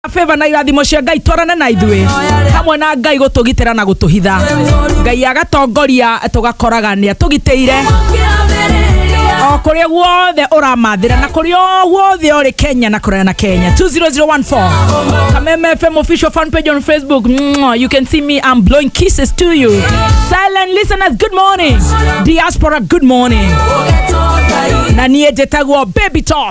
favor na irathimo cia ngai twarane na ithuĩ hamwe na ngai gũtũgitĩra na gũtũhitha ngai agatongoria tũgakoraga nĩ atũgitĩire o kũrĩa guothe ũramathĩra na kũrĩa o guothe ũrĩ kenya na kũraya na kenya 20014 kameme fm official fan page on facebook Mwah, you can see me i'm blowing kisses to you silent listeners good morning diaspora good morning na niä njätagwo baby talk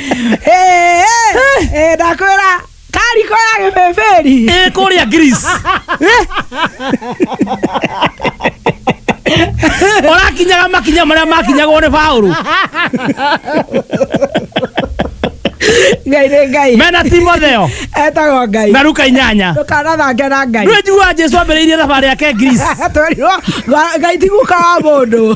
Eh, eh, eh, ndakwĩra kariko ya gĩbĩbĩri ä kå rä a å rakinyaga makinya marä a makinyagwo nä baå ngai nĩ ngai mena timotheo etagwo ngai na ruka inyanya ndũkanathange na ngai rä njiguaga jesu ambä rä irie thabarä yake greece twerirwo ngai tiguka wa mũndũ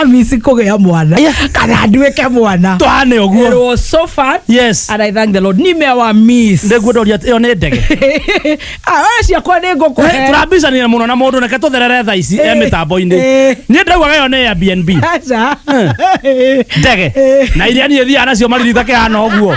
amisi kũgĩa mwana kana nduĩke mwana twahane å guo Erwo so far yes and I thank the Lord nimewa miss ndeguo ndoria ä yo nä ndege Ah, wewe ciakwa nĩ ngũkũhe turabicanä må no na må ndå reke tå therere tha ici e mä tambo-inĩ Eh. niä ndaugaga ä yo nä airbnb Aca. ndege na iria niä thiaga nacio maririta kä hana å guo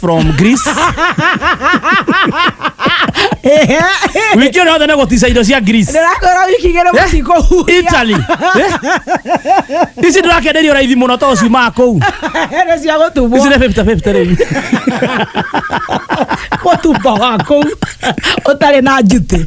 from Greece. Wiki yothe nä gå tica indo cia Greece. ndĩrakwĩra wiki igĩrĩ Eh? mũtikũhuria Italy. Eh? Ici ndä rakenderio raithi må no to ciumaga kå u. nĩ cia gũtumbwo Ici nä 50-50 rä u. gũtumba wa kũu ũtarĩ na njuti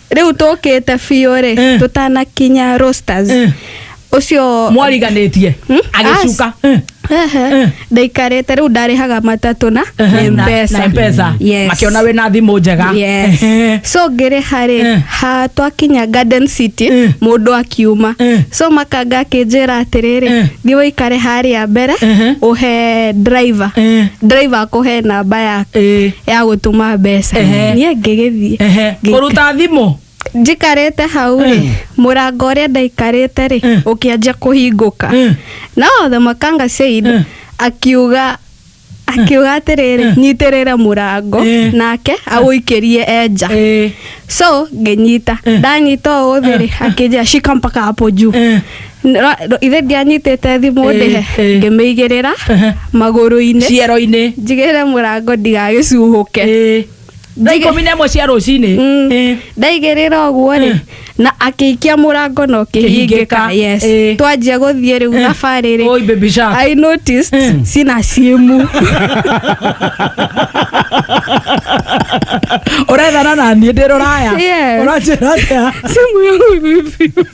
rĩu tũkĩte biũ rĩ Eh. tũtanakinya roasters Eh. ũcio mwariganĩtie Hmm? agĩcuka Eh. Ehe. ndaikarĩte rĩu ndarĩhaga matatũ na Ehe, na- mpesa na mpesa Yes. makĩona wĩna thimũ njega Yes. Ehe. so ngĩrĩha rĩ Eh. ha twakinya garden city Eh. mũndũ akiuma Eh. so makanga akĩnjĩra atĩrĩrĩ Eh. thiĩ ũikare harĩa mbere Ehe. ũhe driver Eh. driver akũhe namba yaku Eh. ya gũtũma mbeca Ehe. niĩ ngĩgĩthiĩ Ehe, Ngĩka- kũruta thimũ njikarĩte hau rĩ Mm. mũrango ũrĩa ndaikarĩte rĩ Mm. ũkĩanjia kũhingũka Mm. no the makanga said Mm. akiuga akiuga atĩrĩrĩ nyitĩrĩre mũrango Eh. nake agũikĩrie enja Ĩĩ. so ngĩnyita Eh. ndanyita ũũ thĩ rĩ akĩnjia shika mpaka hapo juu Eh. Ra- ro- ithe ndianyitĩte thimũ Ĩĩ, ndĩhe ĩĩ. ngĩmĩigĩrĩra Ehe. magũrũ-inĩ ciero-inĩ njigĩrĩre mũrango ndigagĩcuhũke Ĩĩ. thaa Njige- ikũmi na ĩmwe cia rũcinĩ Mm. Ĩĩ. ndaigĩrĩra ũguo rĩ Eh. na akĩikia mũrango na Kĩhingĩka. ũkĩhingĩka yes Eh. twanjia gũthiĩ rĩu Eh. thabarĩ Oi, rĩ baby shark. I noticed Eh. sina simu ũrethana naniĩ ndĩ rũraya Yes. ũranjĩra atĩa simu yangu vipi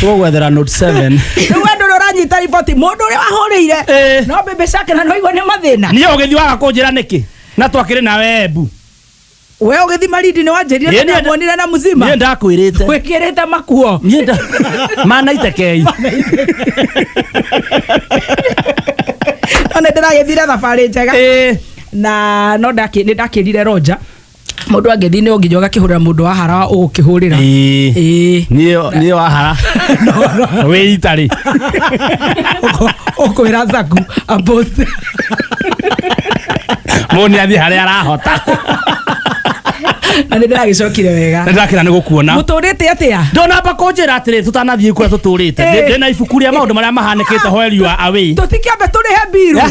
tũgwethera note 7 rĩu andũ ũrĩa ũranyita riboti mũndũ ũrĩa wahũrĩire Eh. no mbembe ciake na noigua nĩ mathĩna niä å gä thiwaga kå njä ra nä kä na twakä rä nawe embu we ũgĩthi marindi nĩ wanjĩrire Niĩ nĩ- ndamuonire na mũzima niä ndakwä rä te wĩkĩrĩte makuo niä nda manaitekei no nĩ ndĩragĩthire thabarĩ njega na no ndakĩ- nĩ ndakĩrire roja Mũndũ angĩthiĩ no nginya ũgakĩhũrĩra mũndũ wa hara ũgũkĩhũrĩra. Ĩĩ. Ĩĩ. Niyo niyo ahara. We itari. Ũkwĩra Zaku apost. Moni athi hare arahota. Na nĩ ndĩragĩcokire wega. Ndakira nĩ gũkuona. Mũtũrĩte atĩa? Ndona ba kũnjĩra atĩrĩ tũtanathiĩ kũrĩa tũtũrĩte. Eh. Ndĩ- Ndĩ na ibuku rĩa maũndũ marĩa mahanĩkĩte hweri wa away. Tũtikĩambe tũrĩhe mbiru. Yeah.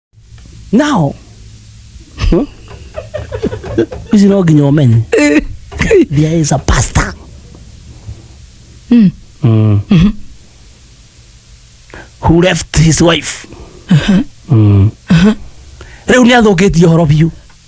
now hmm? ici no nginya ũmenye there is a pastor Mm. who left his wife Mm. rĩu nĩ athũkĩtie ũhoro biũ